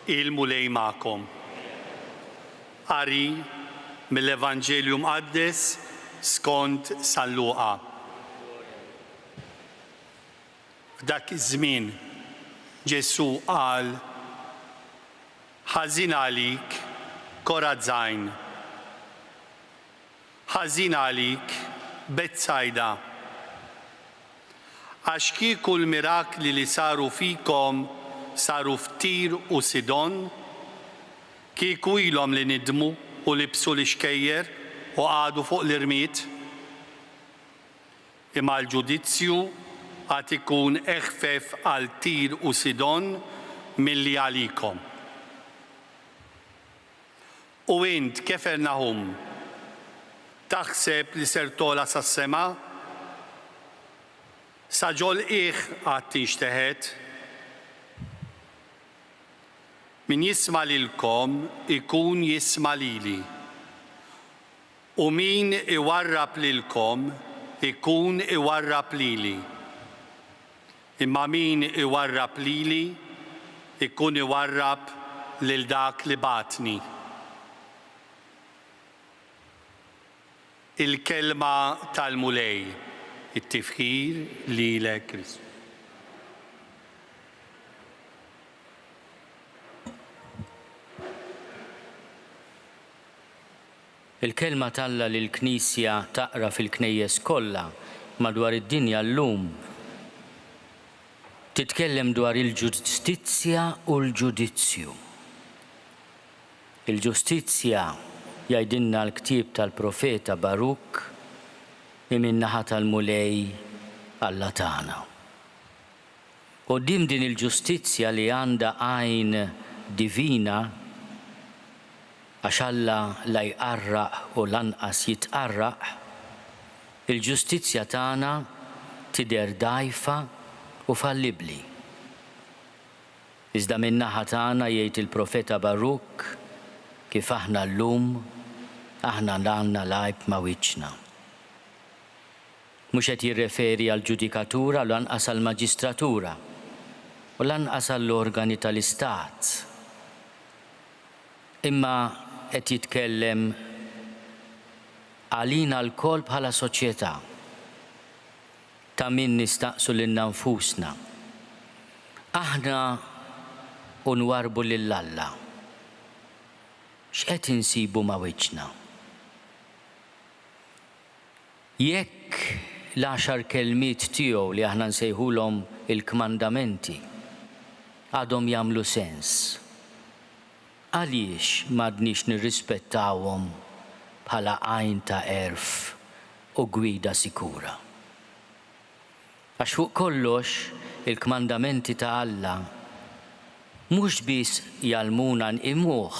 Il-Mulej magħkom. Qari mill-Evanġelju Mqaddes skont San Luqa. F'dak iż-żmien Ġesù qal Ħażin għalik Korazajn. Ħażin għalik Betsajda. Għax kieku l-mirakli li saru fikom saru f'Tir u Sidon, kieku ilhom li nidmu u libsu l-ixkejjer u qagħdu fuq l-irmied. Imma l-ġudizzju għad ikun eħfef għal Tir u Sidon milli għalikom. U int, Kefernaħum, taħseb li ser togħla sas-sema? Sa ġol-qiegħ għad tinxteħet. Min jisma' lilkom ikun jisma' lili. U min iwarrab lilkom ikun iwarrab lili, imma min iwarrab lili jkun iwarrab lil dak li bagħatni. Il-Kelma tal-Mulej. It-tifħir lilek Kristu. Il-Kelma t'Alla li l-Knisja taqra fil-Knejjes kollha madwar id-dinja llum titkellem dwar il-ġustizzja u l-ġudizzju. Il-ġustizzja, jgħidilna l-ktieb tal-profeta Barukk, hi min-naħa tal-Mulej Alla tagħna. Quddiem din il-ġustizzja li għandha għajn divina, għax Alla la jqarraq u lanqas jitqarraq, il-ġustizzja tagħna tidher dgħajfa u fallibbli. Iżda min-naħa tagħna, jgħid il-profeta Barukk, kif aħna llum, aħna għandna l-għajb ma' wiċċna. Mhux qed jirreferi għall-ġudikatura u lanqas għall-maġistratura u lanqas għall-organi tal-Istat, imma qed jitkellem għalina lkoll bħala soċjetà, ta' min nistaqsu lilna nfusna, aħna, u nwarrbu lil Alla, x'qed insibu ma' wiċċna? Jekk l-għaxar kelmiet tiegħu li aħna nsejħulhom il-kmandamenti għadhom jagħmlu sens, għaliex m'għadniex nirrispettawhom bħala għajn ta' għerf u gwida sikura? Għax fuq kollox il-kmandamenti ta' Alla mhux biss jgħallmuna nqimuh,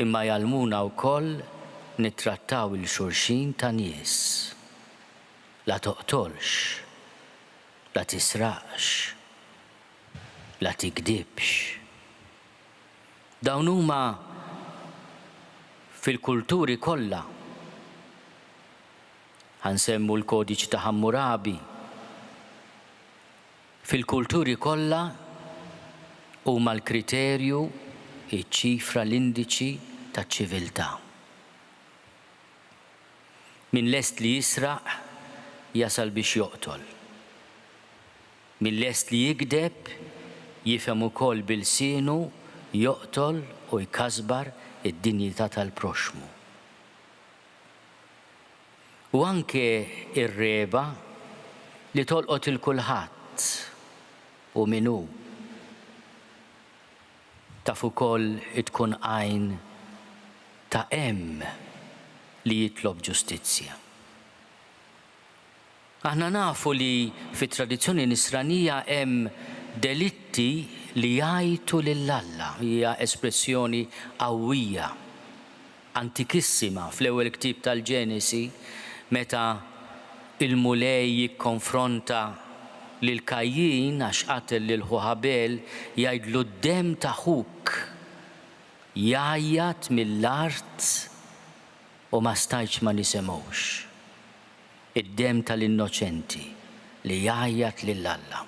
Imma jgħallmuna wkoll nittrattaw 'il xulxin ta' nies. La toqtolx. La tisraqx. La tigdibx. Dawn huma fil-kulturi kollha. Ħa nsemmu l-Kodiċi ta' Ħammurabi. Fil-kulturi kollha, huma l-kriterju, iċ-ċifra, l-indiċi taċ-ċiviltà. Min lest li jisraq, jasal biex joqtol. Min lest li jigdeb, jifhem ukoll bi lsienu joqtol u jkasbar id-dinjità tal-proxxmu. u anke r-regħba li tolqot 'il kulħadd u min hu taf ukoll tkun għajn ta' hemm li jitlob ġustizzja. Aħna nafu li fit-tradizzjoni Nisranija hemm delitti li jgħajtu lil Alla. Hija espressjoni qawwija, antikissima fl-ewwel ktieb tal-Ġenesi meta l-Mulej jikkonfronta lil Kajjin għax qatel lil ħuh Abel, jgħidlu d-demm ta' ħuk jgħajjat mill-art u ma stajtx ma nisimgħux. Id-demm tal-innoċenti li jgħajjat lil Alla.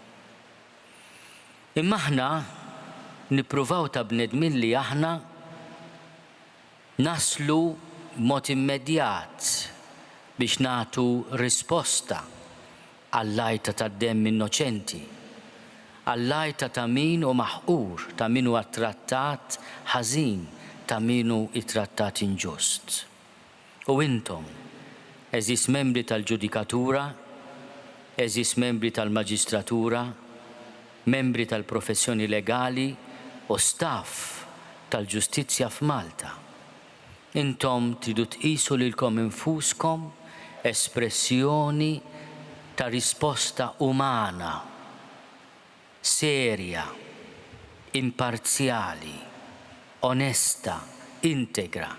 Imma aħna nippruvaw ta' bnedmin li aħna naslu b'mod immedjat biex nagħtu risposta għall-għajta tad-demm innoċenti, għall-għajta ta' min hu maħqur, ta' min huwa ttrattat ħażin, ta' min hu ttrattat inġust. U intom, għeżież membri tal-ġudikatura, għeżież membri tal-maġistratura, membri tal-professjoni legali u staff tal-ġustizzja f'Malta, intom tridu tqisu lilkom infuskom espressjoni ta' risposta umana. serja, imparzjali, onesta, integra,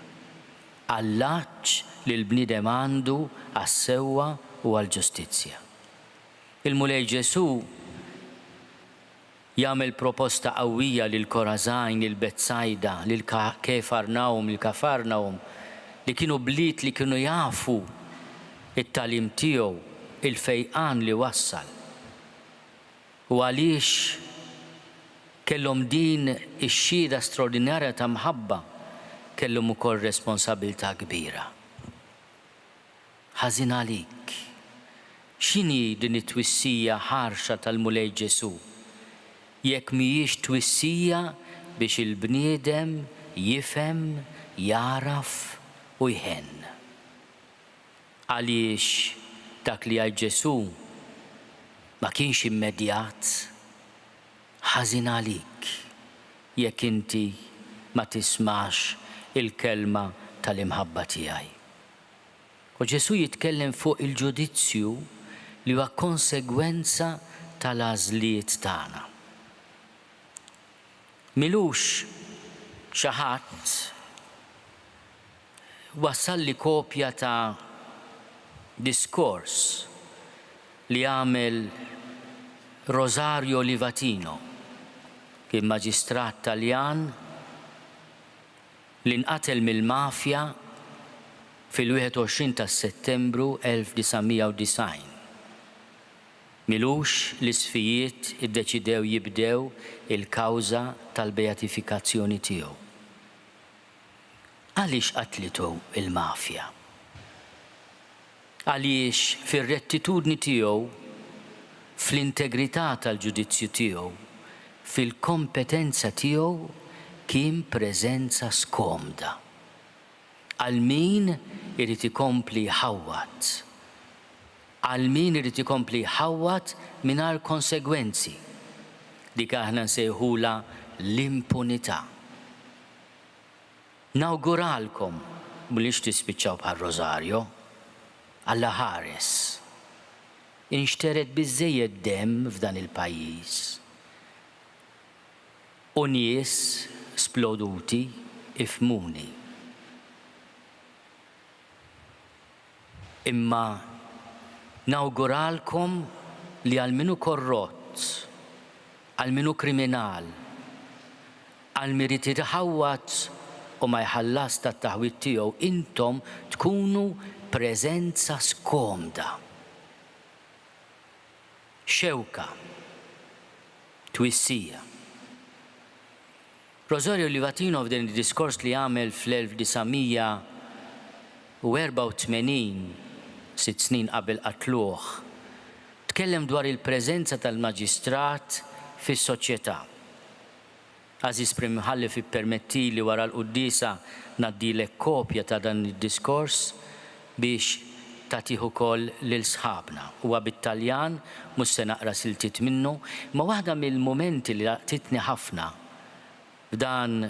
għall-għatx li l-bniedem għandu għas-sewwa u għall-ġustizzja. Il-Mulej Ġesù jagħmel proposta qawwija lil Korażajn, lil Betsajda, lil Kefarnawm, lil Kafarnawm, li kienu bliet li kienu jafu t-tagħlim tiegħu, il-fejqan li wassal. u għaliex kellhom din ix-xhieda straordinarja ta' mħabba, kellhom ukoll responsabilità kbira. Ħażin għalik! X'inhi din it-twissija ħarxa tal-Mulej Ġesù, jekk mhijiex twissija biex il-bniedem jifhem, jagħraf u jħenn? Għaliex dak li għid Ġesù ma kienx immedjat, Ħażin għalik jekk inti ma tismax il-kelma tal-imħabba tiegħi. U Ġesù jitkellem fuq il-ġudizzju li huwa konsegwenza tal-għażliet tagħna. M'ilux xi ħadd. Wassalli kopja ta' diskors li għamel Rosario Livatino, kien maġistrat Taljan li nqatel mill-mafja fil-21 ta' Settembru 1990. M'ilux li Sfijiet iddeċidew jibdew il-kawża tal-bejatifikazzjoni tiegħu. Għaliex qatlitu l-mafja? Għaliex fir-rettitudni tiegħu, fl-integrità tal-ġudizzju tiegħu, fil-kompetenza tiegħu kien preżenza skomda għal min irid ikompli jħawwad, għal min irid ikompli jħawwad mingħajr konsegwenzi, dik aħna nsejħulha l-impunità. Nawguralkom mhuliex tispiċċaw bħal Rosario. Alla ħares. Inxtered biżżejjed demm f'dan il-pajjiż. U nies sploduti ifhmuni. Imma nawguralkom li għal min hu korrott, għal min hu kriminal, għal min irid iħawwad u ma jħallasx tat-taħwid tiegħu intom tkunu preżenza skomda, xewka, twissija. Rosario Livatino f'din id-diskors li għamel fl-1984, sitt snin qabel qatluh, tkellem dwar il-preżenza tal-Maġistrat fis-soċjetà. Għażiż Prim Imħallef ippermettili wara l-quddiesa ngħaddilek kopja ta' dan id-diskors biex tagħtih ukoll lil sħabna. Huwa bit-Taljan, mhux se naqra siltiet minnu, imma waħda mill-mumenti li laqtitni ħafna f'dan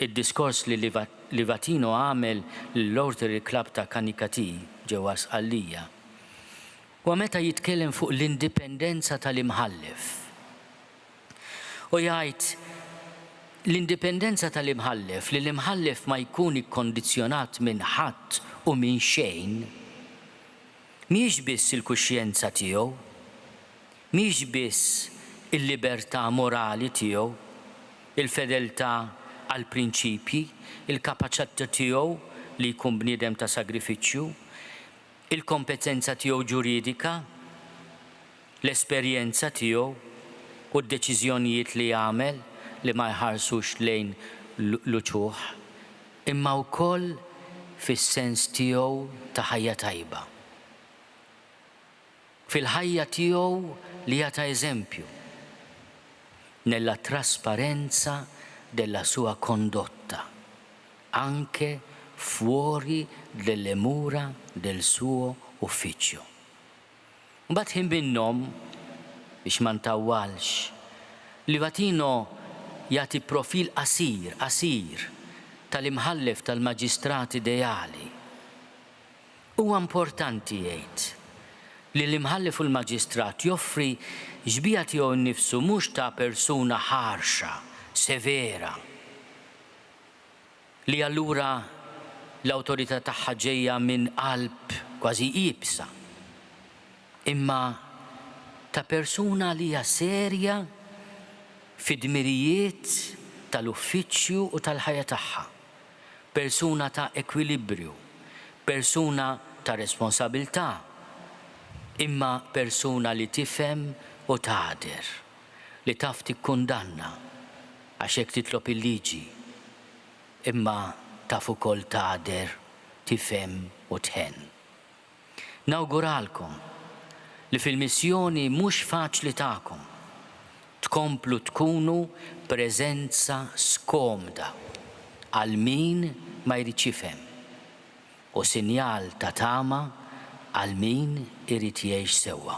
id-diskors li Livatino għamel lill-Rotary Club ta' Canicattì ġewwa Sqallija, huwa meta jitkellem fuq l-indipendenza tal-Imħallef. U jgħid, L-indipendenza tal-Imħallef, li l-Imħallef ma jkun ikkondizzjonat minn ħadd u minn xejn, mhijiex biss il-kuxjenza tiegħu, mhijiex biss il-libertà morali tiegħu, il-fedeltà għall-prinċipji, il-kapaċità tiegħu li jkun bniedem ta' sagrifiċċju, il-kompetenza tiegħu ġuridika, l-esperjenza tiegħu u d-deċiżjonijiet li jagħmel li ma jħarsux lejn l-uċuħ, imma wkoll fis-sens tiegħu ta' ħajja tajba. Fil-ħajja tiegħu li hija ta' eżempju, nella trasparenza della sua condotta, anche fuori delle mura del suo ufficio. Mbagħad ħin minnhom, biex ma ntawwalx, Livatino jagħti profil qasir, qasir, tal-Imħallef tal-Maġistrat ideali. Huwa importanti jgħid li l-Imħallef u l-Maġistrat joffri xbieha tiegħu nnifsu mhux ta' persuna ħarxa, severa. li allura l-awtorità tagħha ġejja minn qalb kważi iebsa, imma ta' persuna li hija serja fid-dmirijiet tal-uffiċċju u tal-ħajja tagħha, persuna ta' ekwilibrju, persuna ta' responsabilità, imma persuna li tifhem u tagħder. li taf tikkundanna għax hekk titlob il-liġi, imma taf ukoll tagħder, tifhem u tħenn. Nawguralkom li fil-missjoni mhux faċli tagħkom, tkomplu tkunu preżenza skomda għal min ma jridx jifhem u sinjal ta' tama għal min irid jgħix sewwa.